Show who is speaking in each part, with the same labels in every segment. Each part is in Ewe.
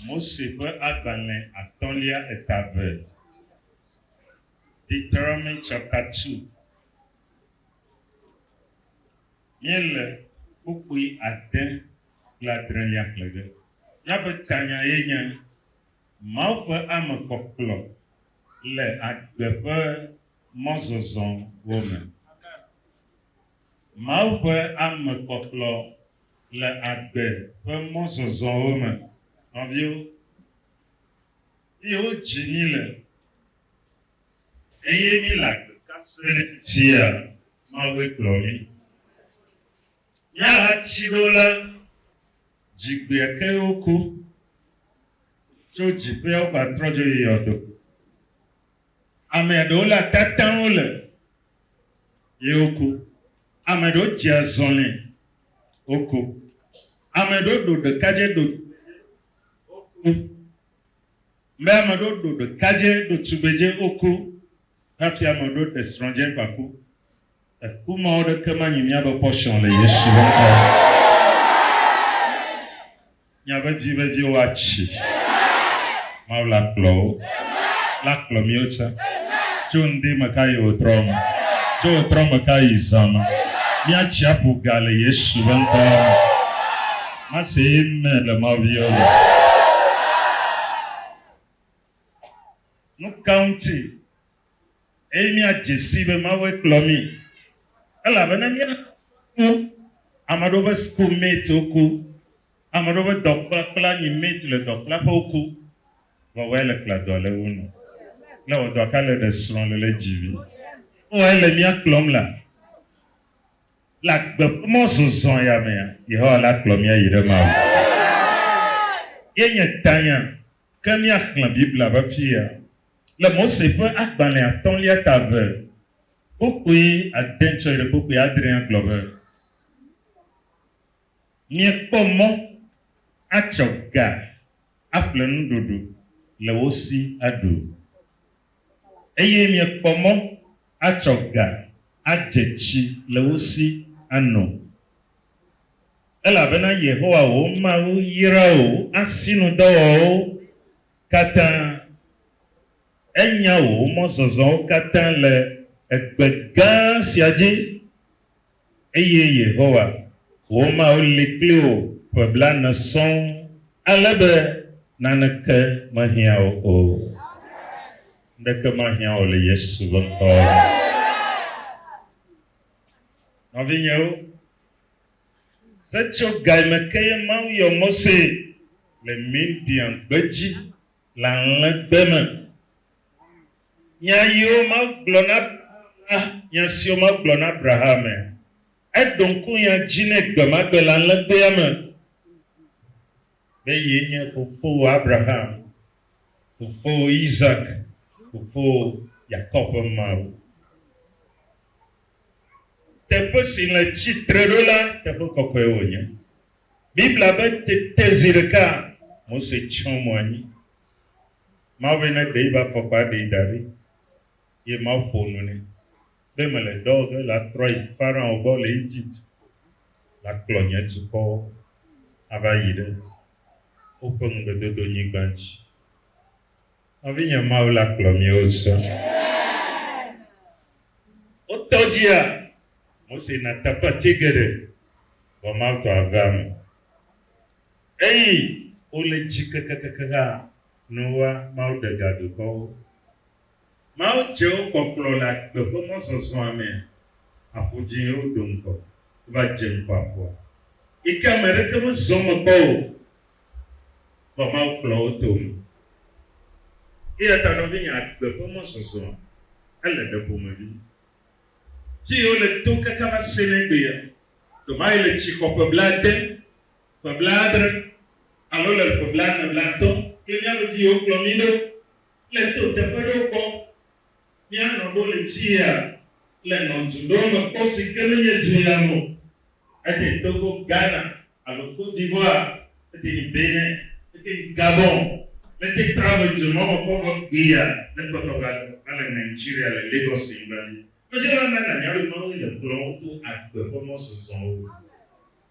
Speaker 1: Mose ƒe agbalẽ atɔ̃lia eta eve, Deuteronomy chapter 2. Míele kpukpui ade kple adrelia xlẽ ge. Míaƒe tanya ye nye Mawu ƒe ame kpɔkplɔ le agbe ƒe mɔzɔzɔwo me. Mawu ƒe ame kpɔkplɔ le agbe ƒe mɔzɔzɔwo me. Nɔviwo, míewodzi mí le eye míle agbe ka sem fifia? Mawue kplɔ mí. Míahati ɖo la, dzigbea ke woko tso dziƒeawo va trɔ dzo yi yɔdo. Amea ɖewo le atatãwo le ye woko. Ame ɖewo dzea zɔlɛ woko. Ame ɖewo ɖo ɖekadze ɖo woko. Mbe ame ɖewo ɖo ɖekadze ɖo tugbedze woko. Hafi ame ɖewo ɖe srɔ̃ dze gbaku. Eku mawo ɖeke manyi mía be pɔshɔn le Yesu ŋkɔ me. Nya be dzi vevie wo atsi. Mawu la kplɔ wo. La kplɔ miwo tse. Tso ŋdi me ka yi wo trɔ me. Tso wo trɔ me ka yi zã me. Mia tsi aƒu ga le Yesu be ŋkɔ me. Ma se amen le Mawu viwo me. Nuka ŋuti eye míadze sii be Mawue kplɔ mí, elabena míaƒe sukuwo, ame aɖewo ƒe school mate wo ku, ame aɖewo ƒe dɔkplakpla nyi mate le dɔkplaƒe wo ku, vɔ wɔe le kpla dɔa le wo nu, le wɔ dɔa ka le ɖe srɔ̃ le le dzi vi. Wɔe le mía kplɔm la, le agbe ƒe mɔ zɔzɔ ya mea, Yehowa la kplɔ mía yi ɖe Mawu gbɔ. Ye nye tanya Ke míaxlẽ Biblia ƒe fia le Mose ƒe Agbalẽ Atɔ̃lia ta eve kpokpui ade tsɔ yi ɖe kpokpui adre agblɔ be, Miekpɔ mɔ atsɔ ga aƒle nuɖuɖu le wo si aɖu, eye miekpɔ mɔ atsɔ ga adze tsi le wo si ano. Elabena Yehowa wò Mawu yra wò asinudɔwɔwɔwo katã, enya wò mɔzɔzɔwo katã le egbe gã sia dzi, eye Yehowa, wò Mawu li kpli wò ƒe blaene sɔŋ ale be naneke mehiã wò o. Ŋɖeke mahiã wò le Yesu ƒe ŋkɔ me. Nɔvinyewo, setsogae me kee Mawu yɔ Mose le Midian gbedzi le alẽgbe me. Nya yiwo Mawu gblɔ na la, nya siwo Mawu gblɔ na Abrahamea, eɖo ŋku nya dzi nɛ gbemagbe le alẽgbea me. be ye nye fofowò Abraham, fofowò Isak, fofowò Yakob ƒe Mawu. Teƒe si le tsitre ɖo la teƒe kɔkɔe wònye. Biblia be tete zi ɖeka Mose tsyɔ mo anyi. Mawu be neɖe eƒe afɔkpa ɖee da ɖi, eye Mawu ƒo nu nɛ. be mele dɔ ge la trɔ yi Farao gbɔ le Egypt va kplɔ nye dukɔwo ava yi ɖe woƒe ŋugbedodonyigba dzi. Nɔvinye, Mawu la kplɔ mí wozɔ. Wo tɔ dzia, Mose na tapati geɖe vɔ Mawu tɔ avea me. Eyi wole dzi kekekeke hã, nuwua Mawu ɖe ga dukɔwo. Mawu dze wo kpɔkplɔ le agbe ƒe mɔzɔzɔa mea, aƒu dzi ye woɖo ŋgɔ. Wova dze ŋgɔ aƒua, yi ke ame aɖeke mezɔ eme kpɔ o, vɔ Mawu kplɔ wo to eme. Eya ta nɔvinye, agbe ƒe mɔzɔzɔa, ele ɖe ƒomevi. Dzi yi wole tom kaka va se ɖe egbea, ɖe woayi le tsi xɔ ƒe blaade, ƒe blaadre, alo le ƒe blaene, blaatɔ̃ kple mía me dzi yi wokplɔ mí ɖo. le to teƒe ɖewo gbɔ. Míanɔ ɖo le tsiea le nɔ du ɖewo me kpɔ si ke menye du ya me o. Ete Togo, Ghana alo Côte d'Ivoire, ete yi Bénin, ete yi Gabon. Mete trɔ le du mawo me kpɔ vɔ gbea ne kpɔtɔ va do va le Nigeria le Lagos nyigba dzi. Mezɔna na nanya be Mawue le kplɔm wo to agbe ƒe mɔzɔzɔwo.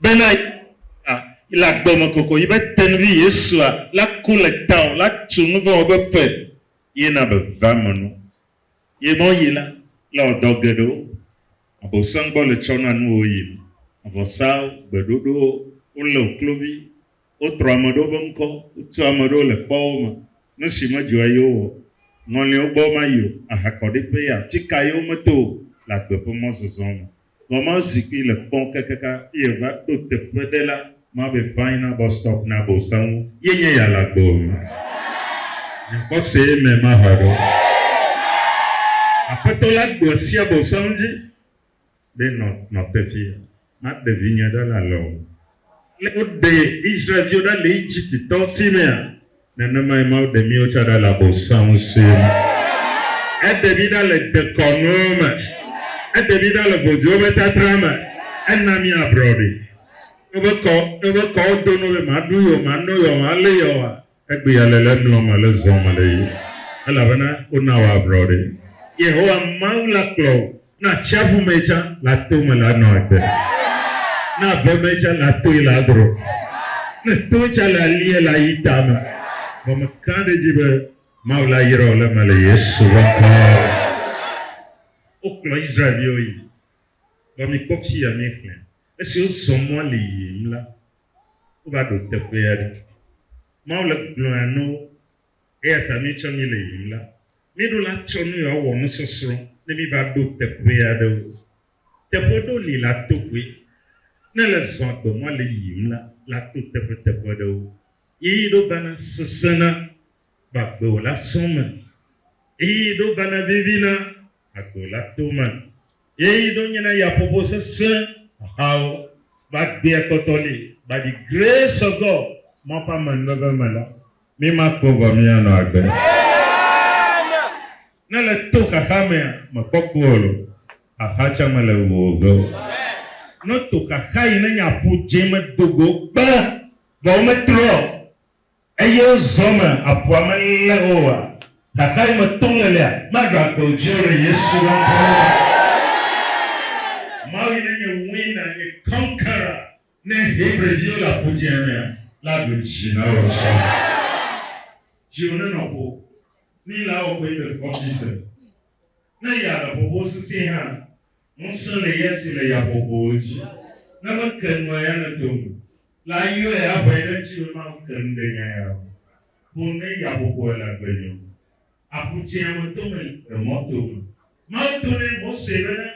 Speaker 1: bena Yehowa le agbe me kokoko be tenuvi Yesua la ku le tao la tu nu vɔ̃ wɔƒe ƒe ye na vevea me nu. Ye mɔ yi la le wɔ dɔ geɖewo. Abosam gbɔ le tsɔ na nuwo yi nu, avɔsawo, gbeɖoɖowo, wo le wo klovi, wo trɔ ame ɖewo be ŋkɔ, wo tu ame ɖewo le kpɔwo me, nu si me dzɔa ye wo wɔ, ŋɔliawo gbɔ ma yi o, ahakɔɖiƒe ya ti ka ye wo me to o le agbe ƒe mɔzɔzɔ me. Vɔ ma zikpui le kpɔn kakaka eye va ɖo teƒe ɖe la ma be vain na bus stop na bo saŋu ye nye ya la gbɔ o. Nya kpɔ se amen ma hɔe ɖo. Aƒetɔ la gblɔ sia bo saŋu dzi be nɔ nɔ teƒe ma ɖe vinye ɖe la lɔ o. Ale woɖe Israel-viwo ɖa le Egypte-tɔwo si mea? Nenemae Mawu ɖe míwo tsã ɖa le Abosam si me. Eɖe mí ɖa le dekɔnuwo me. Eɖe mí ɖa le vodzowo ƒe tatra me. Ena mí abrɔɖi. Eƒe kɔ, eƒe kɔwo do no be, Maɖu yeɔ, mano yeɔ, malé yeɔa? Egbea le le emlɔm ale zɔa me le ye, elabena wona wòablɔ ɖi. Yehowa Mawu la kplɔ wò na atsiaƒu mee tsã le ato me le anɔ agbe, na ave mee tsã le atoe le adro, ne to tsã le alie le ayi tame. Vɔ mekã ɖe edzi be Mawu la yra wò le eme le Yesu ƒe ŋkɔ me. Wokplɔ Israel-viwo yi. Vɔ mikpɔ fia míexlẽ. Esi wozɔ mɔ le yiyim la, wova ɖo teƒe aɖe. Mawu le gblɔa na wo. Eya ta mí tsɔ mí le yiyim la, mí ɖo la tsɔ nu ya wɔ nusɔsrɔ̃ ne mí va ɖo teƒe aɖewo. Teƒe ɖewo li la to koe. Ne le zɔ agbe mɔ le yiyim la, la to teƒe teƒe ɖewo. Ɣeyiɣi ɖewo vana sesẽna gbagbe wòla sɔ̃ me. Ɣeyiɣi ɖewo vana vivina ago la tome. Ye yi ɖo nyina yaƒoƒo sesẽ hahawo va gbea kpɔtɔ li va ɖi Grace of God mɔ ƒe amenuveve me la, mi ma kpɔ vɔ mi anɔ agbe. Ne le to xaxa mea, me kpɔ ku ɔ lo, xaxa tsɛ me le wu oge o. Ne to xaxa yi ne nye aƒu dze me dogo kpe vɔ wo me trɔ ɔ, Eye zɔ me aƒua me lé oa? Xaxa yi me to ŋelia, magakpe o dzi o ɖe Yesu la ƒe ŋkɔ me. Mawu yi ne nye winner, nye conqueror, ne Hebri viwo le Aƒu Dzĩa mea, la ɖo dzi na wò azɔ. Dziwò nenɔ ƒo, ni la wɔ kɔe be kɔfi se, ne ya le ƒoƒo sesĩe hã. Ŋusẽ le ya si le yabɔbɔwo dzi, ne meke nua ya nedo eme. La yɔe aʋãe ɖe edzi be make nu ɖe nya ya ŋu boŋ ne yabɔbɔe le agbe nye ŋu. Aƒu Dzĩa me tome le mɔ tome. Mawu do nɛ, Mose, bena,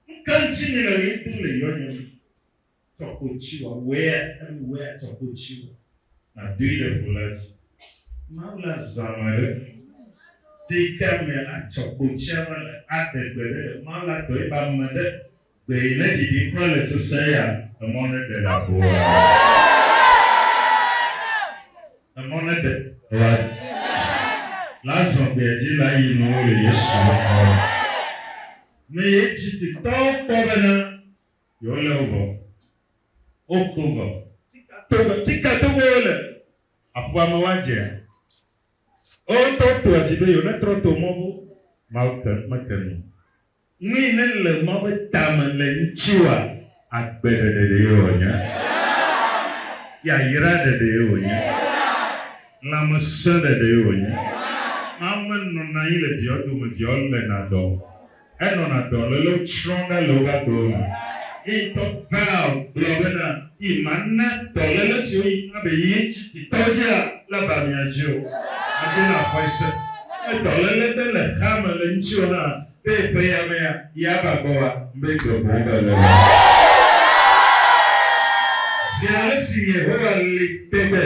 Speaker 1: Nu ka ŋuti mele ɣli dom le yɔnye me? tsɔ ko ŋtsi wɔ, wea, enu wea tsɔ ko ŋtsi wɔ, nàdoe ɖe ŋu la dzi. Mawu la zã ma ɖe ɖeka me la tsɔ ko ŋtsia va le aɖe gbe ɖe le Mawu la tɔe be ame ɖe gbe yi ne ɖiɖi kura le sesẽ ya emɔ ne ɖe la vo la dzi. Emɔ ne ɖe la dzi la zɔ gbea dzi la yi nɔ wo le Yesu ŋkɔ me. Meye Egipte tɔwo kpɔ bena Yewolé wo vɔ. Woko vɔ. Tome, tika tom wole. Aƒua me woadzea? Wo ŋutɔ wotoa dzi be yewonetrɔ to mɔ vo. Mawu te, mete nu o. Nui ne le Mawu ƒe tame le ŋutiwòa? Agbe ɖeɖe ɖee wònye. Yayra ɖeɖee wònye. Lãmesẽ ɖeɖee wònye. Mawu menɔna anyi le viawo dome, viawo léna dɔ. enɔna dɔlélewo tsrɔ̃m ɖa le woƒe agbewo me. Ye ŋutɔ Val gblɔ bena, Yi mana dɔléle siwo yi na be yi ŋuti titɔwo dzia, nava mia dzi o. Adi na xɔe se ne dɔléle ɖe le xea me le ŋutiwò hã be ƒe ya mea, yi ava gbɔwòa, mbe gbe boŋ va le o. Zi ale si Yehowa li te be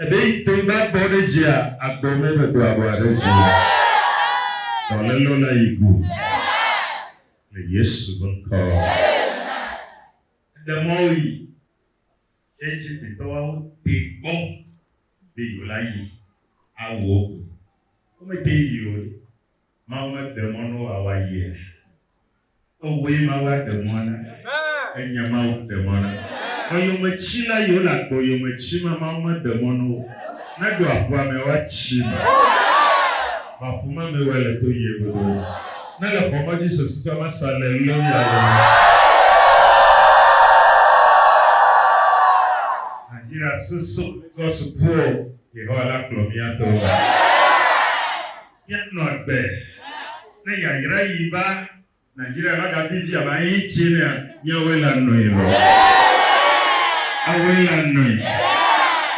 Speaker 1: Eɖe yi te ŋu va bɔ ɖe dzia agbɔ mɔ be do abɔa ɖe dzi. Dɔlelo la yi gu le Yesu be ŋkɔ me. Eɖe mɔ wo yi. Egiptitɔ wa wo te kpɔ be yewo la yi awu wo go. Wo me te yi o ɖe. Mawu meɖe mɔ ne wòawa yia? Ewɔe Mawu aɖe mɔ na. Enye Mawu ɖe mɔ na. Eyometsila yiwo le agbo yome tsi ma, Mawu meɖe mɔ na wo ne ɖo aƒua me woatsi me. Vɔ aƒu ma me wɔe le to yie godoo. Ne le xɔ mɔ dzi sesitɔ ma sa le leo ya le me. Nigeria sesokɔ sukuɔ, Yehowa la kplɔ mía to eme. Míanɔ agbe ne yayra yi va Nigeria va ga bibi ame ayi tse nea miawoe la nɔe lɔ. Awoe la nɔe.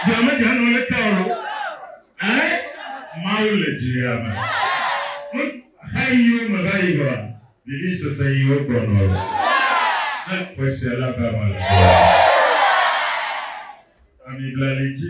Speaker 1: Dua me dza nɔ leke o lɔ. Ɛɛ Mawu le dua me. Nu xa yiwo me va yi vɔa vivi sese yiwo gbɔ nɔ lɔ. Ne xɔsia la va me le vɔa ami bla li dzi.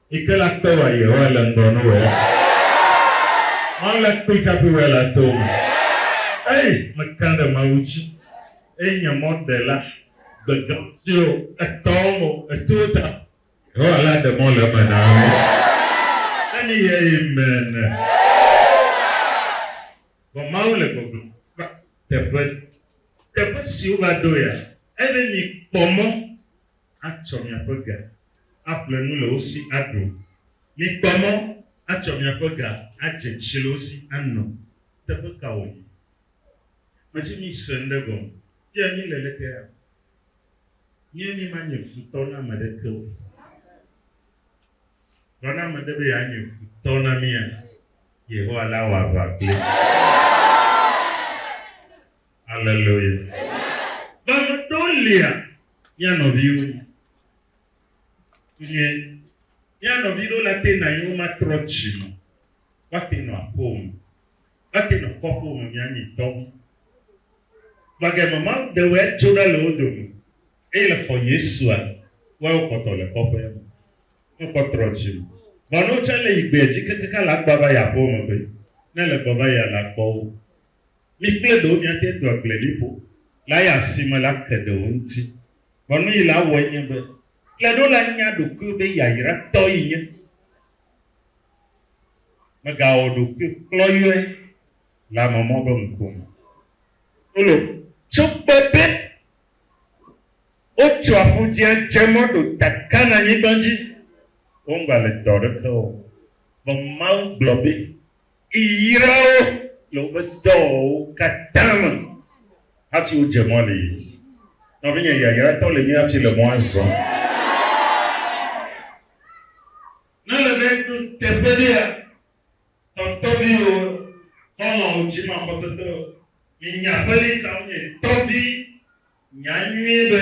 Speaker 1: Ike la kpe wa Yehowa le ŋgɔ no wea? Mawu la kpe tsaƒe wea le ato me? Ei, mekã ɖe Mawu dzi. Eye nye mɔ ɖe la, gbegã siwo etɔwo mo, etowo ta. Yehowa la ɖe mɔ le eme na mi. Ne mi ye Amen. Vɔ Mawu le gbɔgblɔ va teƒe, teƒe si wova ɖo ya, ebe mi kpɔ mɔ. atsɔ miaƒe ga aƒle nu le wo si aɖu. Mikpɔ mɔ atsɔ miaƒe ga adze tsi le wo si ano. Teƒe ka wòyi? Medi mise ŋɖe gɔme. Fia míle le kea? Nye mímanye futɔ na ame aɖeke o. Vɔ ne ame aɖe be yeanye futɔ na mía, Yehowa la wɔ aʋa kpli. Aleluya! Gbɔgbɔtɔwo lia mía nɔviwo yi. Nyuie. Mía nɔvi ɖewo le ate na anyi womatrɔ dzi me o. Woate nɔ aƒewo me. Woate nɔ kɔƒewo me mía nyi tɔ wo. Vɔ gema Mawu ɖe wɔe tso ɖa le wo dome eye le xɔ Yesua wɔe wokpɔtɔ le kɔƒea me. Me kpɔ trɔ dzi me. Vɔ ne wotsɔ le yi gbea dzi kekeke la gbɔ va yi aƒewo me be ne le gbɔ va yia la kpɔ wo. Mi kple ɖewo miate do agbleliƒo la ya si me la ke ɖewo ŋuti. Ʋɔnui la wɔe nye be, kple ɖo la nya ɖokuiwò be yayratɔ yi nye. Megawɔ ɖokui klɔyɔe le ame mɔ be ŋuƒo me. Polo. Tso kpe be wotso aƒudzia dze mɔ ɖo ta Kananyigba dzi, womgale dɔ ɖeke wɔm. Vɔ Mawu gblɔ be yra wo le woƒe dɔwo katã me hafi wodze mɔ nɛ. Nɔvinye yayratɔ le mía si le mɔa zɔm. Ne ele be eɖo teƒe ɖea, tɔtɔviwo, xɔlɔ̃wo, dzimaxɔsetɔwo, minya aƒeli kawo nye tɔvi, nya nyuie be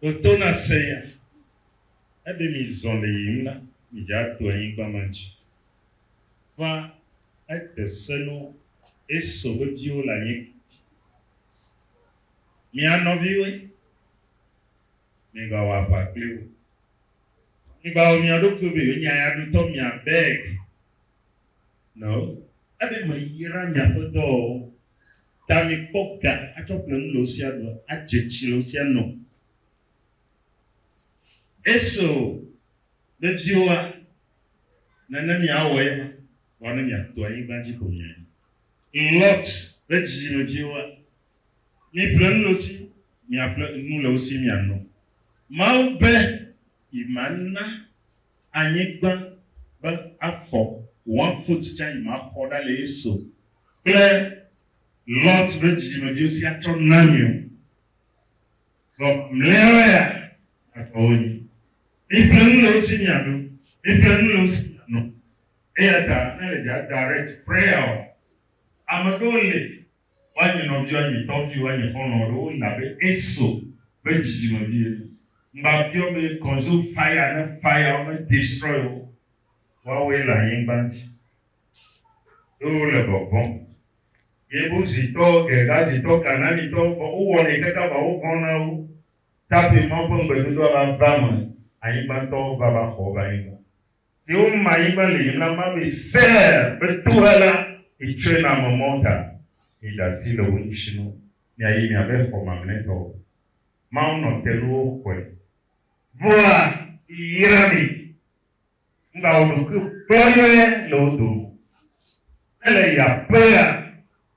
Speaker 1: Ɖo to na senya, ne ɖe mizɔ le yiyim la, midze ato anyigba ma dzi. Va, ede se no Esau ƒe viwo le anyigba dzi be, Mia nɔviwoe, migawɔ aʋa kpli wo. Migawɔ mia ɖokuiwo be yewonye ayadotɔ, mia beg, no, ebe meyra miaƒe dɔwɔwɔ Ta mi kpɔ ga atsɔ ƒle nu le wosia ɖu adze tsi le wosia nɔ. Eso be viwoa, nane mi awɔ ye ma, vɔ ne mia to anyigba dzi ko mia yi. Lot be dzidzime viwoa, mi ƒle nu le wosi, mia ƒle nu le wosi mia nɔ. Mawu be yi ma na anyigba be afɔ one foot tsa yi ma xɔ ɖa le ye so kple Lot be dzidzime viwo sia tsɔ na mi o. Vɔ mleawa ya afɔ wo nyi. Mi ƒle nu le wo si mia ɖu, mi ƒle nu le wo si mia nɔ. Eyata ne le dza direct prayer oa, ameɖewo le woanyi nɔviwò, anyi tɔviwò, anyi xɔlɔ̃wò ɖe woyina abe Esau ƒe dzidzimevi ene. Ŋgbabiɔ be consume fire ne fire wo me destroy wo woawoe le anyigba dzi eye wole vɔvɔm. Yebusitɔ, Gergazitɔ, Kananitɔ vɔ wowɔnɛ kaka va wovɔ̃ na wo tape Mawu ƒe ŋugbedodoa va va me anyigbantɔwo va va xɔ woƒe anyigba. Teo ma yi ba le yi na ma be Seir be toa la yi tsɔe na ame mawo ta. Mi da asi le wo ŋutsi nu mia yi mia be xɔ mamlɛ tɔ wo. Mawu nɔ te nu wo xɔe. Vɔa yi yra mi. Ŋga wo ɖokui kplɔyɔɛ le wo dome. Ele yi aƒea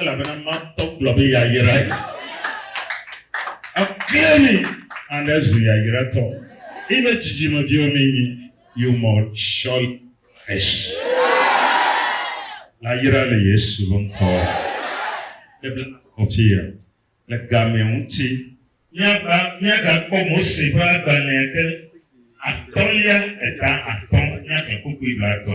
Speaker 1: Elabena matɔ gblɔ be yayra yi. Ekle mi and ezu yayratɔ. Eyi be dzidzimeviwo mi nyi you must surely perish. La yra le Yesu be ŋkɔ. Ke be kɔfi ya le gamea ŋuti. Miava miaga kpɔ Mose ƒe agbalẽa ke atɔlia eta atɔ miaga kpokpui be atɔ.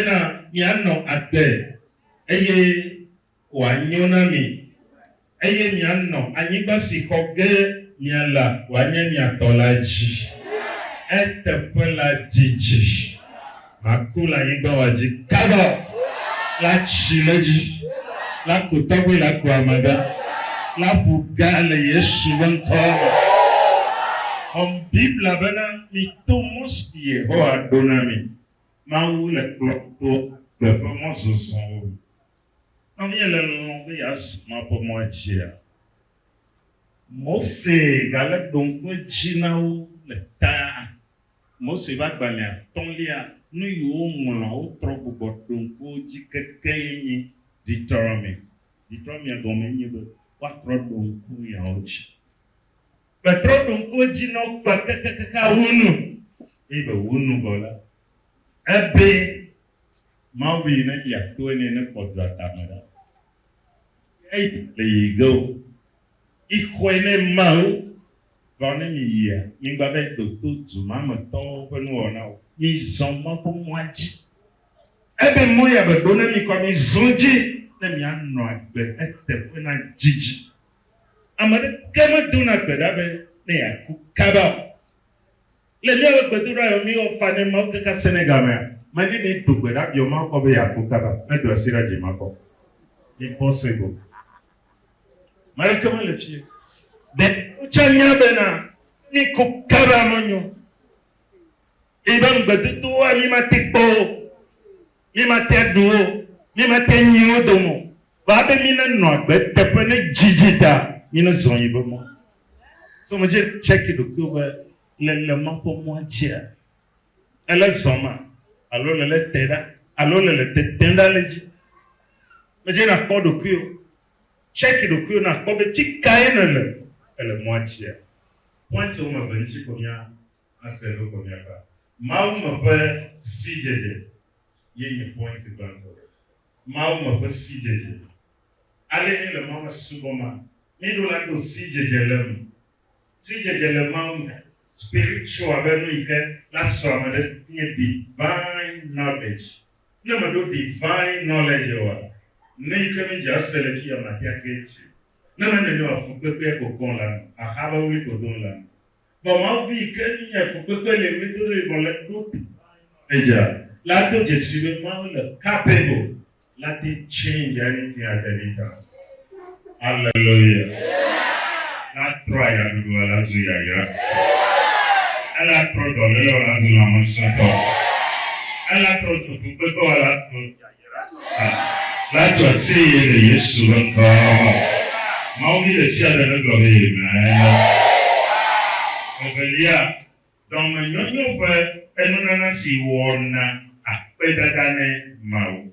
Speaker 1: Bena mianɔ agbe, eye wòanyo na mi, eye mianɔ anyigba si xɔ ge miala wòanye mia tɔ la dzi. Eteƒe la didi. Maku le anyigba wa dzi kaba la tsi le edzi. La ku tɔgbe la ku ame gã la ƒu ga le Yesu ƒe ŋkɔ la me. Xɔm Biblia bena mito mɔ si Yehowa ɖo na mi Mawu le kplɔm to agbe ƒe mɔzɔzɔwo me. Nɔ via le lɔlɔ̃m be yeazu Mawu ƒe mɔa dzia? Mose gale ɖom kpe dzi na wo le ta. Mose ƒe agbalẽ atɔ̃lia, nu yi woŋlɔa wotrɔ gbugbɔ ɖo ŋku wo dzi kekeɛ nye Deuteronomie. Deuteronomie gɔmee nye be, Woatrɔ ɖo ŋku nuyawo dzi. Petro ɖo ŋku edzi nɔ kpe kekekeke awu nu eye be wu nu vɔ la, ebe Mawu be yi na dzi ya toe nɛ ne kpɔ dua tame ɖa. Ŋkea yi me le yi ge o. Mi xɔe ne Mawu gblɔ ne mi yia, mi gba va yi do to du ma me tɔwo ƒe nuwɔna o. Mi zɔ Mawu ƒe mɔa dzi. Ebe mɔ ya be ɖo na mi kɔ mi zɔ dzi ne mi a nɔ agbe eteƒe na didi Ame aɖeke medona gbe ɖa be ne yeaku kaba o. Le míaƒe gbedoɖa yɔ mí wɔfa ne Mawu kaka Senegal mea, Madi ne do gbe ɖa biɔ Mawu kpɔ be yeaku kaba. Medo asi ɖa dzi makpɔ. Impossible. Ame aɖeke mele fie. Ɖe wotsa nya bena ne míku kaba menyo o. Eye be ŋugbedodowoa mí mate kpɔ wo, mí mate aɖu wo, mí mate nyi wo dome o, va be mí ne nɔ agbe eteƒe ne dzi dzi ta mí ne zɔ yi be mɔ. So me dze check ɖokuiwo be le le ma ƒe mɔa dzia le le zɔ ma alo le le te ɖa alo le le tete ɖa le dzi. Me dze na kpɔ ɖokuiwo, check ɖokuiwo na kpɔ be tsi kae ne le ele mɔa dzia. Point wo me ve ŋtsi ko mía ase ɖo ko mia ta. Mawu me ƒe sidzedze ye nye point gbãtɔ. Mawu me ƒe sidzedze. Ale mi le Mawu me subɔ ma, mi ɖo la ɖo sidzedze le eme. Sidzedze le Mawu me, spiritual be nu yike la sɔ ame ɖe si nye divine knowledge. Ne me ɖo divine knowledge oa, nu yike mi dze ase le fiya ma tea get you. Ne me nene oa, fukpekpea ko gɔn la nu, axaba wli ko don la nu. vɔ Mawu bui ke nyi nye ko kpekpe le ɣlidodoe vɔ le nuɖo Edza la do dzesi be Mawu le capable la te change anything at any time. Hallelujah. La trɔ aya ɖuɖua la zu yayra. Ela trɔ dɔlelɔ la zu lãmesẽtɔ. Ela trɔ dzokpekpetɔa la zu. Pilato atie ye le Yesu ƒe ŋkɔa me vɔ. Mawu vi ɖe sia ɖe negblɔ be Amen. Evelia, dɔmenyonyo ƒe enunana si wɔna akpedada ne Mawu.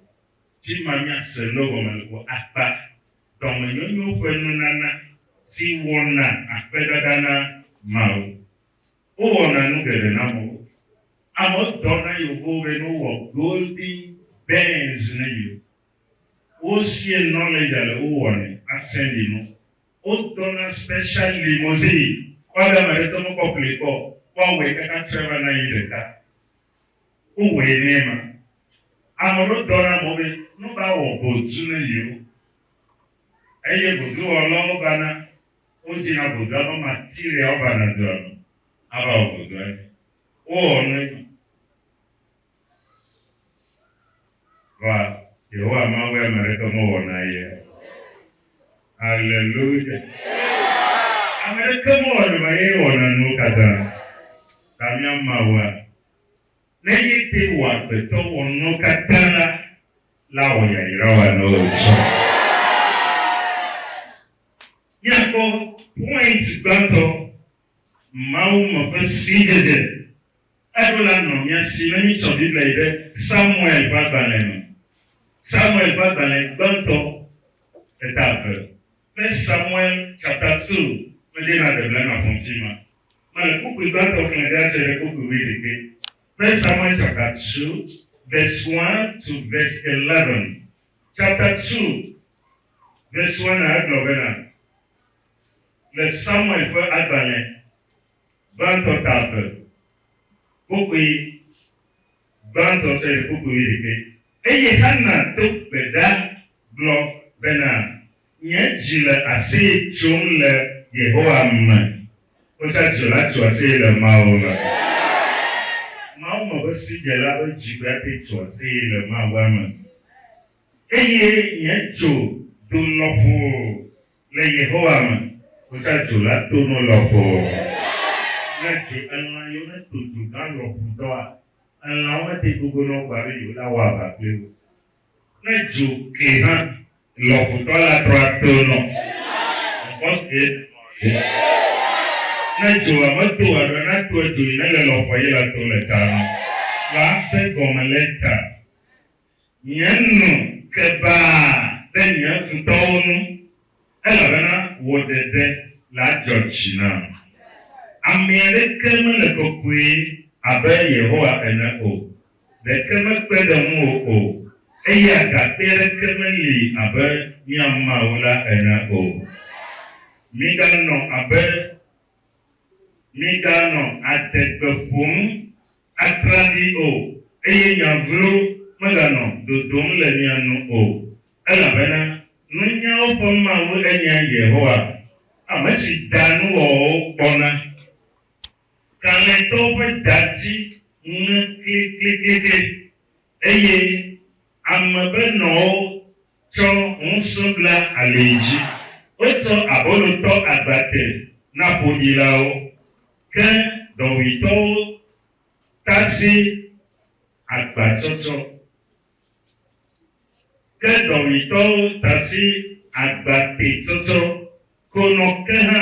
Speaker 1: Fi ma míase nu gɔme le ƒo akpa, dɔmenyonyo ƒe nunana si wɔna akpedada na Mawu. Wowɔna nu geɖe na amewo. Amewo dɔ na yewoƒewo be ne wowɔ golden bands ne yewo. Wosie knowledge ale wowɔnɛ asɛnɖi no. Wodɔ na special limousine kpɔ be ame aɖeke mekpɔ ƒli kpɔ o, woawɔe kaka tre va na yi ɖeka. Wowɔe nɛ ema. Ame aɖewo dɔ na amewo be ne wova wɔ ʋɔtru ne yewo eye ʋɔtruwɔlawo vana Wodze na vodua be Matilde ava na dua me ava wɔ vodua dzi. Wowɔ nu edzi. Va, Yehowa Mawu ya ame aɖeke mewɔ na ye o. Aleluya! Ame aɖeke mewɔ na va, ye wɔna nuwo katã. Ta mía Mawua, ne ye te wɔ agbetɔ wɔ nuwo katã la, la wɔ yayra wɔ na wò tsɔ. Míakpɔ point gbãtɔ, Mawu me ƒe sidzedze. Eɖo la nɔ mía si ne míetsɔ Biblia yi ɖe Samuel ƒe agbalẽ me. Samuel ƒe agbalẽ gbãtɔ, eta eve, First Samuel chapter two, medze na ɖe blema ƒom fi ma. Mele kpukpui gbãtɔ xlẽ ɖe atse ɖe kpukpui wuiɖekɛ. First Samuel chapter two verse one to verse eleven. Chapter two. Des Werner egblɔ bena, Le Samuel ƒe agbalẽ gbãtɔ ta eve, kpokpui gbãtɔ tsɔ yi kpokpui wuiɖekɛ. Eye Xana do gbe ɖa gblɔ bena, Nye dzi le aseye tsom le Yehowa me. Wotsa dzila tso aseye le Mawu me. Mawu me ƒe sidzela ƒe dzi ƒe ate tso aseye le Mawua me. Eye nye dzo do lɔƒo le Yehowa me. Wotsã dzo la to no lɔƒo. Ne dzo elã yio ne to dzo gã lɔƒo dɔa, elãwo mete gogo nɔ gbɔ alo yewo na wɔ aʋa kpli wo. Ne dzo kli hã lɔƒo dɔa la trɔa to nɔ. Ŋkɔsue ne nɔ ye. Ne dzoa me to alo ne atoa dzo yi ne le lɔƒoa ye la to le ta nɔ. Lã se gɔme le ta. Nye nu ke baa ɖe nye futɔwo ŋu, elabena wò ɖeɖe la dzɔ dzi nam. Ame aɖeke mele kɔkɔe abe Yehowa ene o, ɖeke mekpe ɖe ŋuwò o, eye agakpe aɖeke meli abe mía Mawu la ene o. Miganɔ abe Miganɔ adegbe ƒom atraɖii o, eye nya vlo meganɔ dodom le mia nu o, elabena nunyawo ƒe Mawu enye Yehowa, ame si daa nuwɔwɔwo kpɔna. Kalẽtɔwo ƒe dati ŋe klikliklikli. Eye ame be nɔwo tsɔ ŋusẽ bla alii dzi. Wotsɔ abolo tɔ agba te na ƒoɖilawo, ke dɔwuitɔwo tasi agbatsɔtsɔ. Ke dɔwuitɔwo tasi agbatetsɔtsɔ konɔ ke hã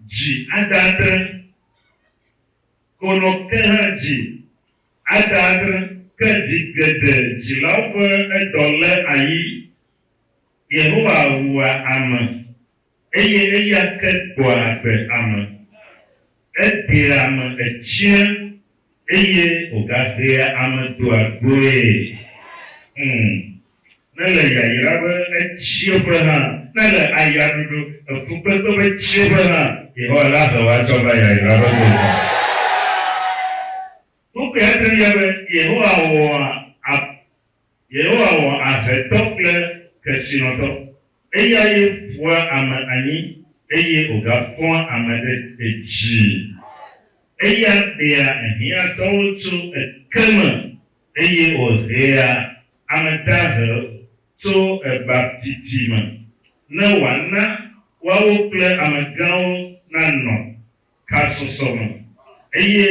Speaker 1: dzi adadre konɔ ke hã dzi. Ada aɖe ke ɖi geɖe dzilawo ƒe edɔ lé ayi. Yehowa wua ame, eye eya ke gbɔa agbe ame. Eɖea ame etsiã, eye wògaɖea ame doa goe. Ŋ, Nele yayra ƒe etsieƒe hã, nele ayaɖuɖu, efukpekpe ƒe tsieƒe hã, Yehowa la he wò atsɔ va yayra ƒe gota. Nukui ate ŋu nye be Yehowa wɔa ab, Yehowa wɔ ahetɔ kple kesinɔtɔ. Eyae ƒoa ame anyi eye wògafɔa ame ɖe edzii. Eya ɖea ehiãtɔwo tso eke me. Eye wòhea ame dahewo tso egbabdidi me, ne wòana woawo kple amegãwo nanɔ kasɔsɔ me, eye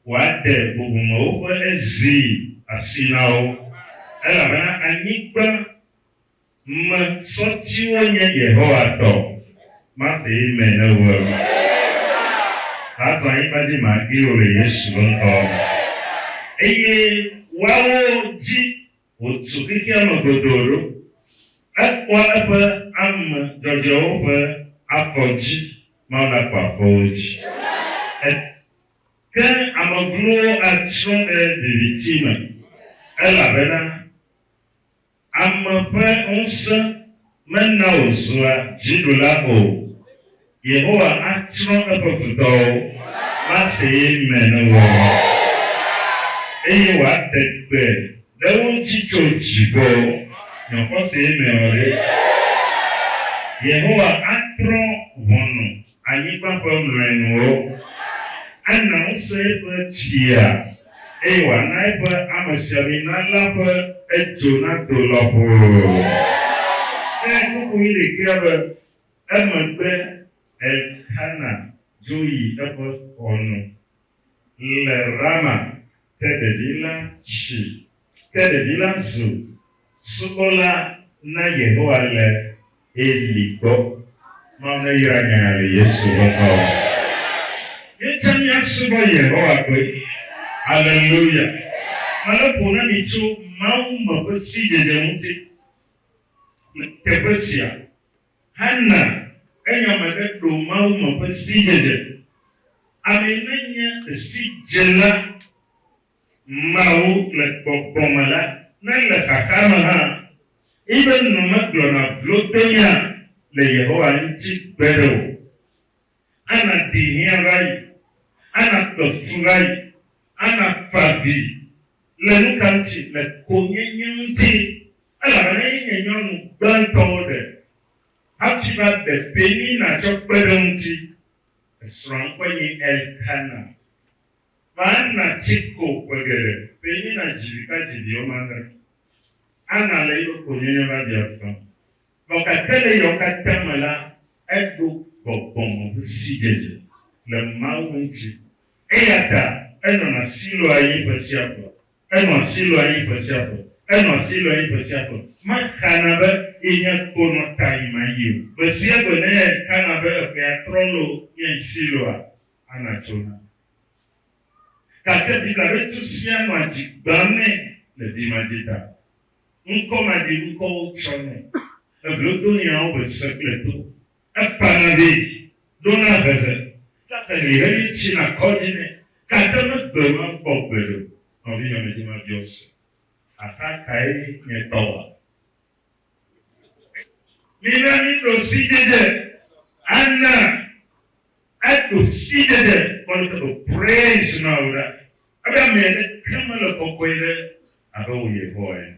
Speaker 1: wòaɖe bubumewo ƒe zi asi na wo, elabena anyigba. Ŋme sɔtiwo nye Yehowa tɔ. Masee me ne wue o. Azɔ anyigba dzi magli o le Yesu be ŋkɔ me. Eye woawo dzi wòtu xexea me godoo ɖo. Ekpɔ eƒe ame dzɔdzɔewo ƒe afɔdzi. Mawu nakpɔ afɔwo dzi. E Ke ame glowo atsrɔ̃ ɖe viviti me. Elabena Ame ƒe ŋusẽ mena wòzua dziɖula o. Yehowa atsrɔ̃ eƒe futɔwo le aseye me ne woawa o, eye wòade gbe ɖe wo ŋuti tso dziƒo. Nɔ xɔsee me ɔ ɖe! Yehowa atrɔ ʋɔnu. anyigba ƒe mlɔenuwo. Ana ŋusẽ eƒe tsia, eye wòana eƒe amesiamina la ƒe edzo nado lɔƒo. Ɖe kuku yi ɖekea be. Emegbe Elkana dzo yi eƒe xɔ nu. Le Rama te ɖevi la tsi. Ke ɖevi la zu subɔla na Yehowa le Eli gbɔ. Mawu neyra nya ya le Yesu ƒe ŋkɔ me. Míete ŋu asubɔ Yehowa koe. Aleluya! Mele ƒo na mi tso Mawu me ƒe sidzedze ŋuti le teƒe sia. hena enya me ɖe ɖo Mawu me ƒe sidzedze. Amee nenye sidzela mawo le gbɔgbɔ me la, ne ele xaxa me hã, eƒe nu megblɔna vlodonya le Yehowa ŋuti gbeɖe o. Ana ɖi hiã va yi, ana kpe fu va yi, ana fa avi le nukaŋuti? Le konyenye ŋuti. Elabena ye nye nyɔnu gbãtɔwo ɖe, hafi va ɖe Penina tsɔ kpe ɖe eŋuti. Esrɔ̃a ŋkɔe nye Elkana. Va Ana tsi ko ƒe geɖe. Penina dzi vi va dzi vi wɔme adre. Ana le eƒe konyenye va ɖia afã. Vɔ gake le eyawo katã me la, eɖo gbɔgbɔ me ƒe sidzedze le Mawu ŋuti. Eya ta enɔna Siloa ye ƒe sia ƒe. Enɔ asi lɔa yi ƒe sia ƒe. Enɔ asi lɔa yi ƒe sia ƒe. Mexana be yenye ko nɔ ta yim ayi o. Gbe sia gbe ne xana be eƒea trɔ loo nye asi lɔa, Anna tsona. Gake Biblia ƒe tu sia nɔa dzi gbãm nɛ le dzimadzi ta. Ŋkɔmaɖiŋkɔwo tsɔ nɛ. Eblodohiãwo be se kple to. Ekpana ɖi, ɖona hehe, gake ɣeyiɣi tsina kɔ dzi nɛ, gake megbe mekpɔ gbeɖe o. Nɔvinye medi mabiɔ se axa kae nye tɔ wa. Mina miɖo sidzedze ana eɖo sidzedze kpɔ ɖe teƒe praise Mawu ɖa. Ebe ame aɖeke mele kɔkɔe ɖe abe wò Yehowa ene.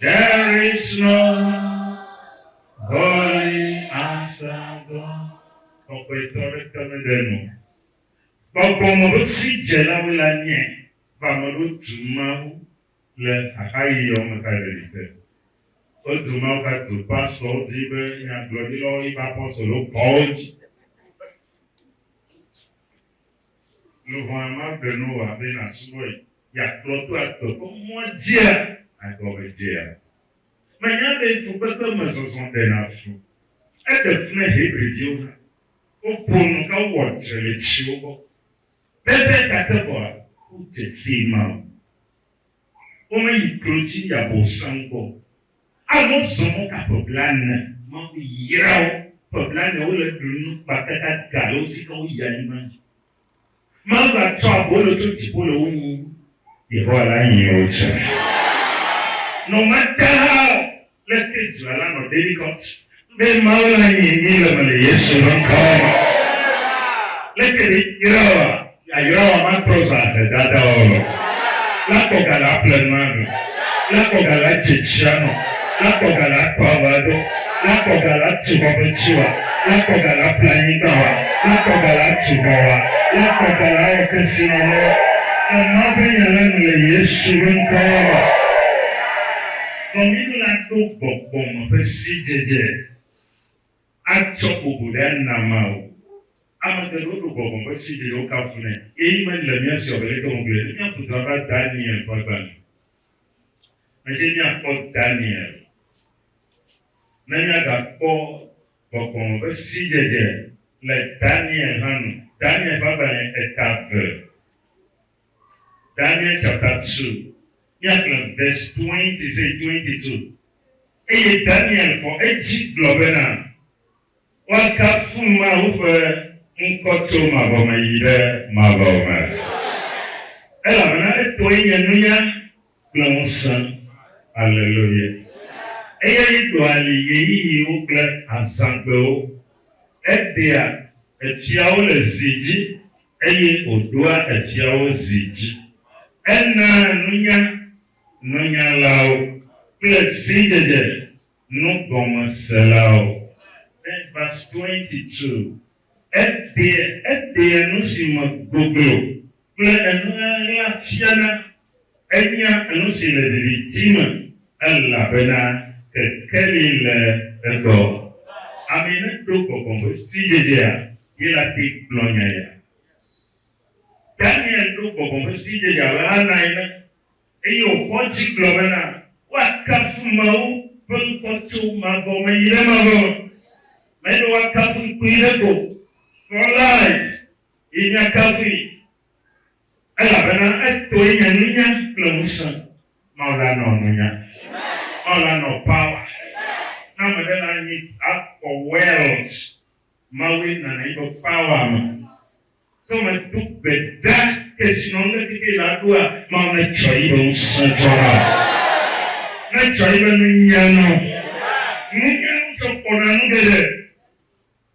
Speaker 1: There is no holy as our God. Kɔkɔetɔ aɖeke mele eme o. Gbɔgbɔme ƒe sidzelawoe la nye be ame aɖewo tu Mawu le xaxaɣiawo me kaɖiɖi te. Wotu Mawu katu pastɔwo dzi be nyagblɔɖilawo yi be apɔstolowo kɔ wo dzi. Lɔ̃a magblẽ Noa be nasubɔe yeakplɔ to agbe ƒe mɔa dzia? Egɔmedzea? Mènya be fukpekpe me zɔzɔ ɖena fu? Eɖe fu na Hebriviwo hã. Woƒo nu ka wowɔ tre le tsiwo gbɔ pɛpɛ ta ke vɔa, wodze sii mao. womeyi klodzi yi Abosam gbɔ o. Awu wozɔ mɔ ka ƒe blaene? Mawu yra wo. Ƒe blaene wole ɖu nu kpata gaga ale wo si ke woyi anyigba dzi. Mawu gatsɔ abolo tso dziƒo le wo nyim. Yehowa la nyi wo tsã. Nɔ mate hã o, Le te dzila la nɔ David Cox be Mawu la nyi nyi le me le Yesu ƒe ŋkɔ me. Le te ɖe yra wa ya yra wa ma trɔ za he dada wa lɔ. La kɔ ga la ple nua nu. La kɔ ga la dze tsia nɔ. La kɔ ga la tɔ ava do. La kɔ ga la tu xɔ ƒe tsi wa. La kɔ ga la ple anyigba wa. La kɔ ga la tu xɔ wa. La kɔ ga la wɔ kesi nɔ lɔ. Le Mawu ƒe nya la nu le Yesu ƒe ŋkɔ me. Kɔnyilu la ɖo gbɔgbɔ me ƒe sidzedze atsɔ bubu ɖe anama o. Ame geɖewo ɖo gbɔgbɔ me ƒe sidzedze wokafunɛ eye mele mía si o abe leke wògblɔe ɖo mía futɔa va Daniel ƒe agbalẽ me dzi míakpɔ Daniel. Ne míagakpɔ gbɔgbɔ me ƒe sidzedze le Daniel hã nu, Daniel ƒe agbalẽ eta eve. Daniel chapter two, míagblẽ verse twenty say twenty two. Eye Daniel xɔ edzi gblɔ bena, Woakafu Mawu ƒe ŋkɔ tso mavɔ me yi ɖe mavɔ me, elabena etɔe nye nunya kple ŋusẽ. Aleluya! Eyae ɖɔa li ɣeyiɣiwo kple azãgbewo, eɖea etiawo le zi dzi Eye wòɖoa efiawo zi dzi. Enaa nunya nɔnyalawo. Kple sidzedze nugɔmeselawo. Ve, verse 22, Eɖea, eɖea nu si me goglo. Kple enuŋeŋlea fiana. Enya nusi le viviti me elabena kekeli le egbɔ. Amee ne ɖo gbɔgbɔ ƒe sidzedzea ye la te gblɔ nya ya. Daniel ɖo gbɔgbɔ ƒe sidzedzea abe Hana ene eye wòxɔ dzi gblɔ bena, Woakafu Mawu ƒe ŋkɔ tso mavɔ me yi ɖe mavɔ me. Menye woakafu ŋkui ɖe ko o, for life ye míakafui. Elabena etoe nye nunya kple ŋusẽ. Mawu la nɔ nunya. Mawu la nɔ power. Ne ame ɖe le anyi akpɔ wealth, Mawue nana yi ƒe power me. So medo gbe ɖa kesinɔnume keke la ɖoa, Mawu netsɔ yi ƒe ŋusẽ tsɔ na wò. Netsɔ yi ƒe nunya na wò. Nunya ŋutsɔ kpɔna nu geɖe.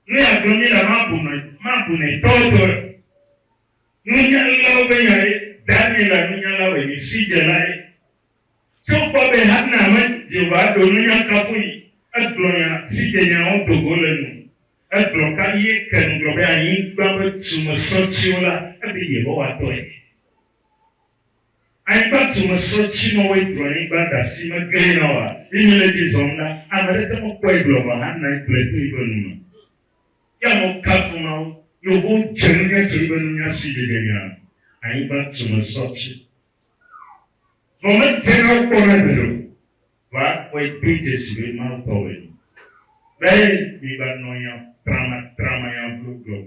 Speaker 1: Ne yeagblɔ mí la, mabunɔe, mabunɔe tɔwetɔwe o. Nunyalawo ƒe nyae, Daniela nunyala wɛmisidzelae. Tso kpɔ be Hana me Jehovaa ɖo nunya kafui, egblɔ nya si dze nyawo do go le nu. Egblɔ ka ɣie ke ŋugblɔ be anyigba ƒe tumesɔtiwo la, eɖe Yehowa tɔe. Anyigba tumesɔti mawoe ɖu anyigba ɖasi me gɛ̃ na woa? Zi mile dzi zɔm la, ame aɖeke mekpɔe gblɔ vɔ Hana gblɔe to yiƒe nu me. Ya nɔ kafu Mawu, Yovo dze nunya tso eƒe nunya si ɖeɖe nya anyigba tume sɔ dzi. Vɔ medze na wo kpɔ na gbeɖe o, vɔ akpɔe kpli dze si be Mawu tɔwoe nyo. Be migbanɔ nya tramatrama, nya vlo glo.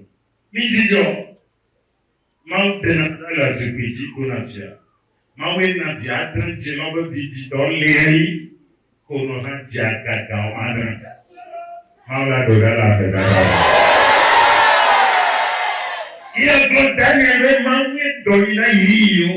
Speaker 1: Midzidzɔ! Mawu tena ɖe le zikpui dzi ko na via. Mawue na via ate ŋu dzi lɔ be vidzidɔ liayi ko nɔ va dzia gaga wɔm adre. Mawu la ɖo ɖa le ave dada me. Ye gblɔ Daniel be Mawue dɔ yi na yiyiyiwo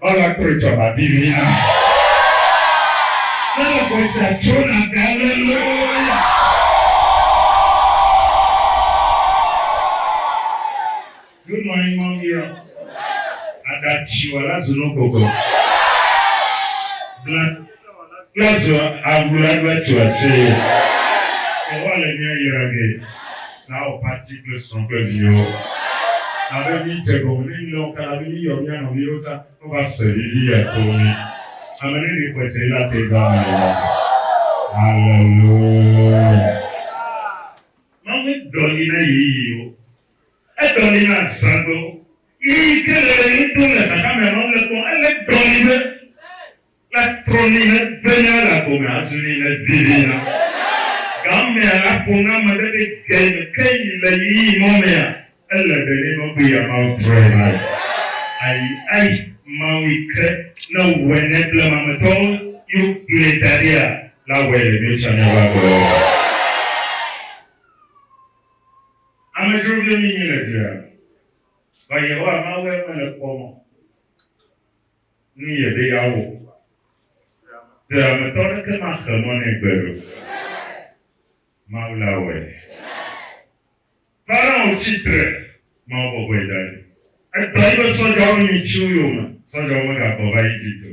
Speaker 1: Woava kpɔe tsɔ babi vɛ na mi. Ele gbe sia tso na gbe aleluya. Do nɔ anyi mɔ miɔ, aɖa tsi wɔ la zu no gogo. Bla. Let's do a good advert to our Savior. Yehowa le mía yra ge. Na wò pati kple srɔ̃ kple viwò. Na be mídze gɔme ne mílé wo kala be míyɔ mía nɔviwo ta wova se viviya to mí. Ame ɖe li xɔse yi la te do ame le la. Hallelujah. Mawu medɔ li na yeyewo. Edɔ li na azãgbewo. Ɣeyiɣi ke le ɣe ɖom le xaxa me nɔ le kpɔ. Ele dɔ li be. La trɔ nu ne benya la gome azu nu ne bibi la. Gamea la ƒo na ame ɖe ɖe ge me ke yi le ɣeyiɣi mɔ mea ele be ne nɔ be ya Mawu trɔe la yi. Ayi ayi Mawu yi ke ne wɔe ne blema me tɔwo yi wo gblɔe da ɖia la wɔe le mio tsã miawo agbe lɔ me. Amedzro vio mi nyi le dua. Vɔ Yehowa Mawu eme le kpɔ mɔ. nu yɛ be ya wɔ ŋua? Ɖe ame tɔ ɖeke ma xe mɔ nɛ gbe ɖo? Mawu la wɔɛ. Pharaoh tsi tre, Mawu bɔbɔɛ da ɖi. Etɔ yi be sɔdjawo nyi tsiwo yome, sɔdjawo me ga gbɔ va Egypt o.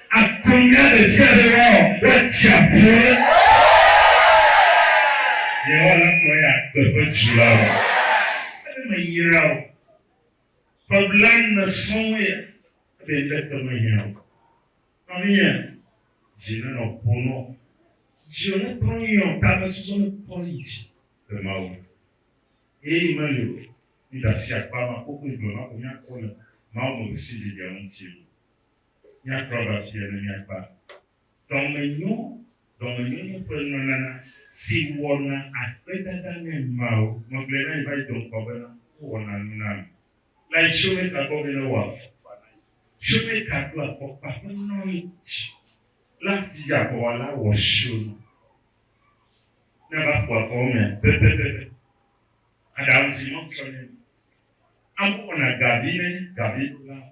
Speaker 1: Akplɔ mía ɖe sia ɖe woawɔ kple tsiaƒue. Yehowa la kplɔ eya agbe ƒe dzrolawo. Ebe meyra o. Ƒe blaene sɔŋue ya. Ebe ŋɖe te mehiã o. Nɔvinyea, dzi nenɔ ƒo nɔ. Dziwò netrɔ nyuiɔ, tamesusɔ nekɔ yi dzi le Mawu ŋu. Ɣeyiɣi meli o. Mídasi akpa ma kokui gblema ko míakɔ le Mawu me ɣesiɣi ɖeɖea ŋuti o. Míatrɔ va afia ne míakpɔ dɔmenyo, dɔmenyonyo ƒe nunana si wɔna akpedada na nyɔnuawo. Megblɔe na mi va yi do ŋkɔ bena wowɔna nu na mi le asiwɔmeka gbɔ be ne wowɔ afɔkpa na mi. Siwɔmeka ɖo afɔkpa ƒe nɔnɔme dzi. La dzi aʋawɔla wɔ siwo nu ne va ƒo afɔwo me pɛpɛpɛpɛ. Aɖaŋu si Mawu tsɔ nɛ. Amewo wɔna gavi ne gaviɖolawo.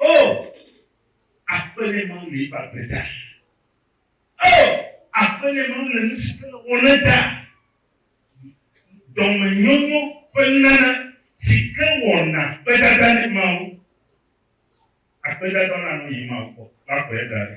Speaker 1: Oh, akpe ne Mawu le eƒe agbe ta. Oh, akpe ne Mawu le nu si wòle wɔ na ta. Dɔmenyonyo ƒe nunana si ke wɔna akpedada ne Mawu. Akpedada la nɔ yi Mawu gbɔ, la kplɔe da ɖi.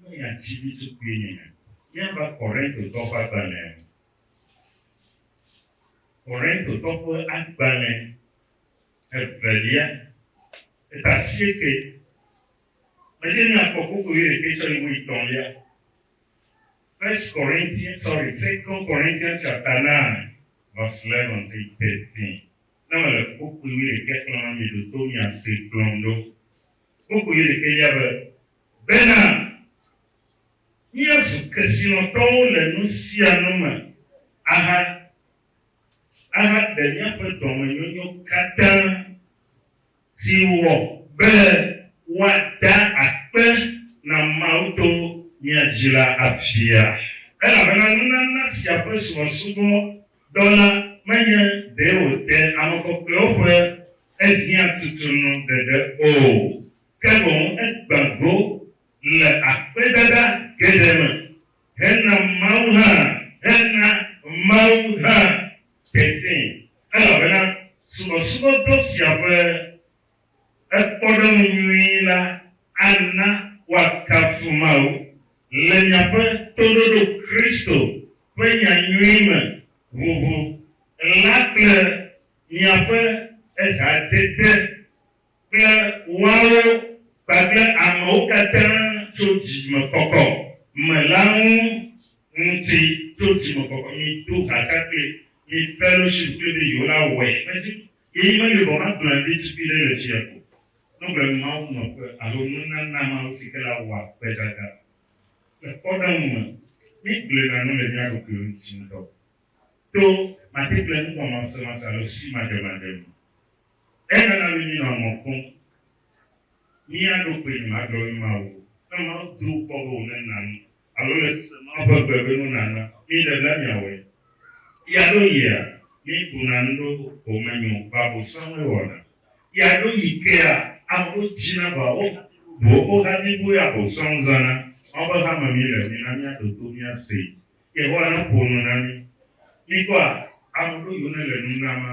Speaker 1: ne miadzi ɖutukuinyenye. Míava Korintotɔ ƒe agbalẽa me. Korintotɔ ƒe agbalẽ evelia, eta asieke. Medze míakpɔ koko wuiɖekɛ tsɔ yi wuietɔ̃lia. First Corinthians, sorry, Second Corinthians chapter 9, verse 11 to 13. Ne mele koko wuiɖekɛ xlẽm la, mieɖo to miase kplɔm ɖo. Koko wuiɖekɛlia be, bena, Míezu kesinɔtɔwo le nu sia nu me aha ahaɖe míaƒe dɔmenyonyo katã si wɔ be woada akpe na Mawu to mía dzi la afia. Elabena nunana sia ƒe subɔsubɔ dɔ la menye ɖe wòde ame kɔkɔewo ƒe ehiã tutunu ɖeɖe o, ke boŋ egbã go le akpedada geɖe me hena Mawu hã hena Mawu hã teti, elabena subɔsubɔdɔ sia ƒe kpɔɖeŋu nyui la ana woakafu Mawu. Le miaƒe toɖoɖo Kristo ƒe nya nyui me ʋuʋu la kple miaƒe ehadede, kple woawo kpakple amewo katã tso dzimekɔkɔ me la ŋu ŋuti tso dzimekɔkɔ mi do ha tsa kple mi fellowship kple be yewo la wɔe mesi yeyi meli vɔ magblɔe be tukui ɖe le fia ko nɔgbe mawu nɔƒe alo nunana mawo si ke la wɔa gbedada le kpɔɖeŋu me mi gblɔe na nu le mia ɖokuiwo ŋuti ŋutɔ to mate kple nuwɔmasemasemase alo simadzemadze me. Enana míenɔa mɔ kpɔm mía ɖokuiwo nu agblɔ nu na wò. Ne Mawu do kpɔ be wòne nam alo le sese Mawu ƒe gbe be nu nana mí ɖe la, míawɔe. Ɣia ɖo ɣia, míeɖuna nu ɖo homenyo babo sɔŋ míewɔna. Ɣia ɖo ɣi kea, amewo dzina ba wo ʋu wo ha bliboe abo sɔŋ zãna. Mawu ƒe hame mí le, mina míaɖo to míasee. Yehowa neƒo nu na mí. Míkpɔa ame ɖo yiwo nele nu nam a?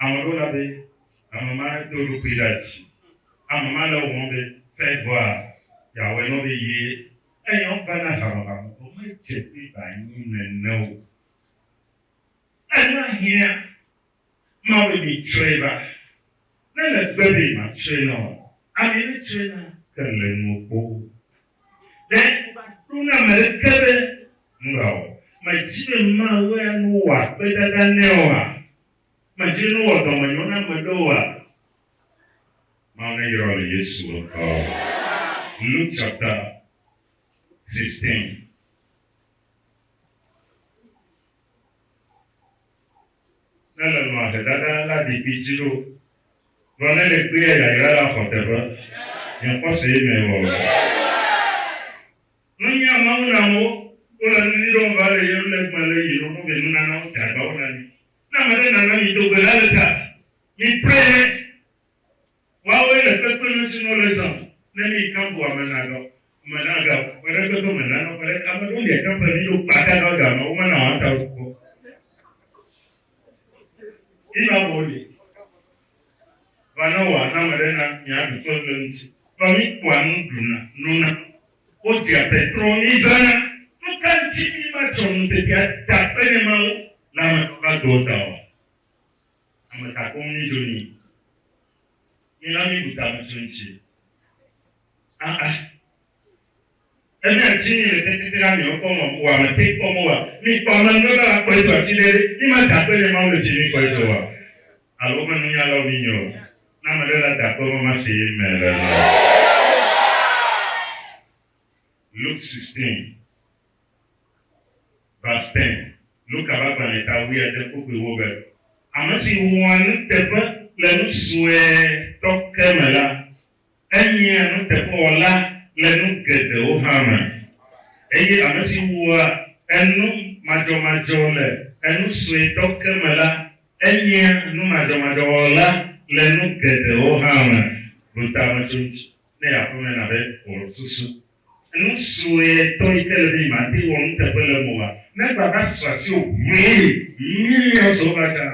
Speaker 1: Ame ɖo la be, ame ma do eɖokui ɖa dzi. Ame ma le wɔm be fɛɛ bɔa yeawɔɛ nɔ be ye enyɔ va na hame ma vɔ vɔ medze be ba nyi nɛnɛ o. Ena hiã ma be mi tsrɔɛ ba. Ne le gbe be ma tsrɔɛ na oa, ami ne tsrɔɛ na ke le nuɔ kpo o. Ɖe ŋu va ɖo na ame ɖeke be nu ba wɔ me dzi be ma wɛa nu wa kpedada nɛ oa? Medi nu wɔ dɔmenyo na ame ɖe oa? Mameyrɔ le Yesu ŋkɔ. Luke chapter 16. Ne le nɔa hedada la ɖi kpiti ɖo. Gblɔ ne le kpli ya yayra la xɔ teƒe. Nye kpɔ se ye me wɔ. Nunya Mawu na wo, wole nunyui ɖom va ɖe ye ŋu le gbã le yi ɖoɖo vɛ nunanawo dze agbawɔ na mi. Ne ame ɖe nana mi do gbe la le ta, mi pre ye. Woawoe le kpekpe nu si nu wole zã o. Ne mi kan bu ame na ga o, ame na ga o, ƒe ɖe kpekpe me nana o, ƒe ɖe, ame ɖewo lia kan ƒle mi ɖo kpa ta ga ga ma wo mana wɔa ta wu kpɔ. Yi ma vɔ wo li. va ne wòana ame ɖe na miaɖu fɔ le eŋuti. Vɔ mikpɔa nu ɖuna, nona, wodzea petro, mizãna. Nu ka ŋuti mimatsɔ ŋutete ada akpe ne Mawu le ame si va do o ta oa? Ame ka koŋ midzo ni? Mina mibu ta ŋutsu ŋuti. Aa. Elia tsi mi le teti tera mi wokpɔ mɔ kpoa me te kpɔ mo wa mi kpɔ ame ŋɖe be la kpɔe do atsi ɖe mi ma da akpe nye Mawu le tsi mi kpɔe do wa alo wome nu nya lɔ mi nyo ne ame ɖe la da akpe mɔ ma se ye me le lɔ. Luke 16 verse 10 Luka be agbalẽ ta wui ade kpokpui wo be. Ame si wɔa nuteƒe le nu sue tɔ ke me la Enyea nuteƒewɔla le nu geɖewo hã me, eye ame si wua enu madzɔmadzɔ le enu suetɔ ke me la, enyea numadzɔmadzɔwɔla le nu geɖewo hã me. Ɖo ta me tso ŋuti ne aƒeme na be wòaɖu susu. Nu sue ŋutɔ yi ke le be nyemate ŋu wɔ nuteƒe le eme oa? Ne egbea va su asiwò ʋuii millions over tsã,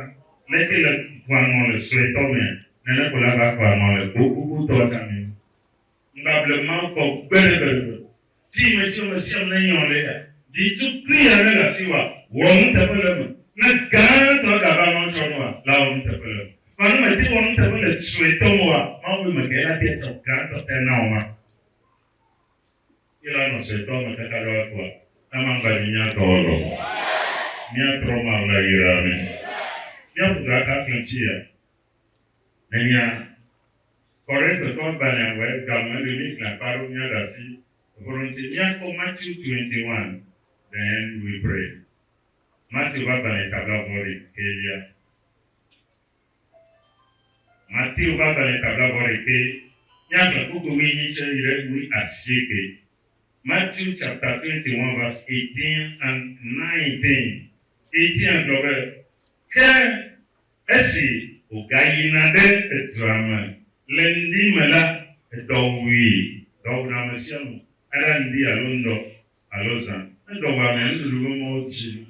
Speaker 1: leke le kua nɔ le suetɔ mea? Nene ko la va kua nɔ le gogogotɔa tsã mea? Ŋgba ble Mawu kpɔ gbeɖegbeɖegbe. Di ame si amesiame nenye o ɖe ya, di tukui aɖe le asiwòa, wɔ nuteƒe le eme. Ne gãtɔ gava nɔ tsɔ ne wòa, la wɔ nuteƒe le eme. Vɔ ne mète ŋu wɔ nuteƒe le suetɔ me oa, Mawu be, Mègae la ate ŋu atsɔ gãtɔ sia nawɔma? Ila nɔ se tɔ me kaka ɖo akua. Ama ŋgba dzi mía tɔ lɔ. Mía trɔ ma ŋla yi ra me. Mía ƒu ga ka kle ŋtsi ya. Nenia Korinthe tɔ ŋgba nɛ wɛ ga me le mí kle akpa ɖo mía ɖa si eƒoɖo ŋtsi. Mía kpɔ Matthew 21 then we pray. Matthew va gbalɛ tabla vɔ ɖe ke lia. Mateo ƒe agbalẽ ta blagoaɖekɛ, míaxlẽ kpukpui wuienyi tsɛ yi ɖe wuiasieke. Matthew chapter twenty one verse eighteen and nineteen, Etiɛn gblɔ be, Ke esi wògayina ɖe edua me le ŋdi me la, edɔ wui. Dɔ wuna ame sia ame, eɖa ŋdi alo ŋdɔ alo zã. Ne dɔ wua amea, nuɖuɖu ƒe mɔwo dzina.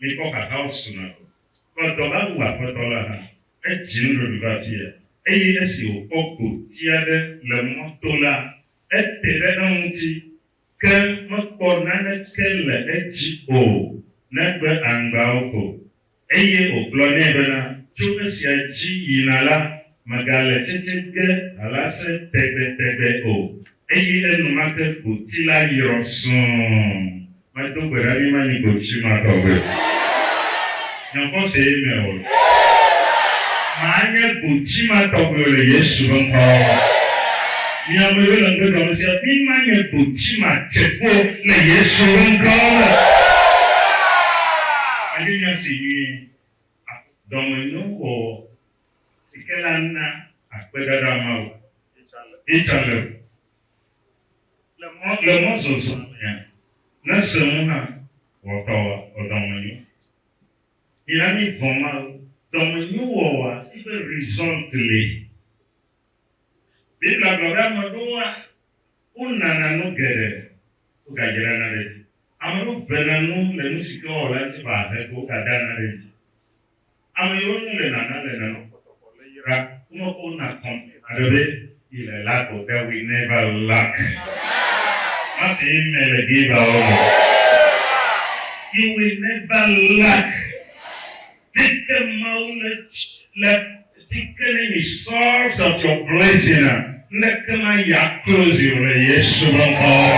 Speaker 1: Míkpɔ xaxawo suna ko. kplɔ dɔ la wu Aƒetɔ la hã. Edzi nuɖoɖi va afia, eye esi wòkpɔ gboti aɖe le mɔ to la, ete ɖe eŋuti, ke mekpɔ naneke le edzi o negbe aŋgbawo ko. Eye wògblɔ nɛ bena, Tso esia dzi yina la, Megale tsetse ge alase tegbetegbe o. Eye enumake gboti la yrɔ sũu. Medo gbe ɖa mimanyi gboti ma tɔgbe o. Nye xɔse me o. Manye gboti ma tɔgbe o le Yesu ƒe ŋkɔ me. Mi ame yiwo le ŋugbe ɖɔm sia, mimanye gboti ma tsekpo o le Yesu ƒe ŋkɔ me. Medi nya si nyuie. Dɔmenyo wɔwɔ. si ke la na akpedada Mawu. Ichalel. Le mɔ, le mɔzɔzɔ mea, ne se ŋu hã wɔtɔ wa, ɔdɔmenyo. Mina mi vɔ̃ Mawu. Dɔmenyo wɔwɔa fi be result li. Biblia gblɔ be ame ɖewoa, wonana nu geɖe, wogadzrana ɖe edzi. Ame ɖewo vena nu le nu si ke wowɔ la ŋuti vɔ ahe ko wogadana ɖe edzi. Ame yiwo ŋu le nana le nana kpɔtɔkɔ le yi ra wome ko na kɔn me haɖe be yi le la go that we never lack. Ma se amen le gee ba wo me. You will never lack. This ke Mawu le le ti ke ne nyi source of your blessing a, ŋɖeke ma yi a close yi o le Yesu be ŋkɔ me.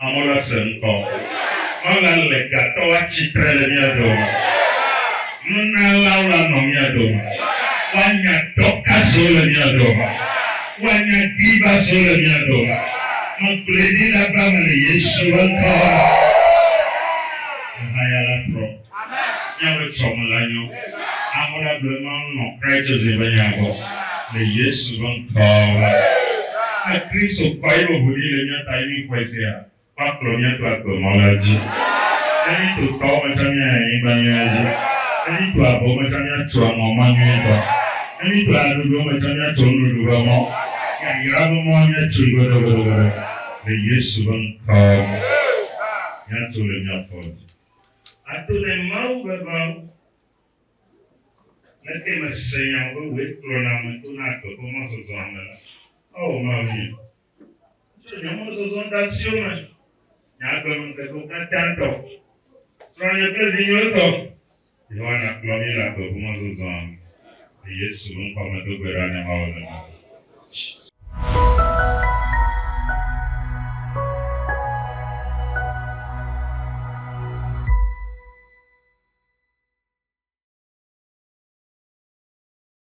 Speaker 1: Amewo nase ŋkɔ. Ɔla le gatɔ atsi tre le mía dome. Nunalawo la nɔ mía dome. Woanya Dɔkaswo le mía dome. Woanya Givaswo le mía dome. Megblɔe ɖi le ave me le Yesu ƒe ŋkɔ me. Ahayala trɔ. Míaƒe tsɔme la nyo. Amewo la gblɔe nɔ nɔ Kraitɔzi ƒe nya gbɔ le Yesu ƒe ŋkɔ me. Ne Kristo kpɔ eƒe ʋu ɖi le mía ta ye míxɔe sea, woakplɔ mía to agbe mɔ la dzi. Ne míeto tɔwo me tsã míayi anyigba nyui la dzi. Ne míeto avewo me tsã míatso aŋɔ mɔ nyuitɔ. Ne míeto aɖoɖowo me tsã míatso nuɖuɖu ƒe mɔ. Yayra ƒe mɔ míatsoe goɖogoɖogoɖo le Yesu ƒe ŋkɔ me. Míato le mía fɔ dzi. Ato le Mawu veveawo me ke mese nya be wòe kplɔ na ame to na agbe ƒe mɔzɔzɔa me la, Oo Mawunye, tsɔ nye mɔzɔzɔ de asiwò me, nye agbemeŋkekewo katã tɔ, srɔ̃nye kple vinyewo tɔ. Yohana kplɔ mí le agbe ŋu mɔzɔzɔa me le Yesu ƒe ŋkɔa me do gbe ɖa ne Mawu le mía ŋu.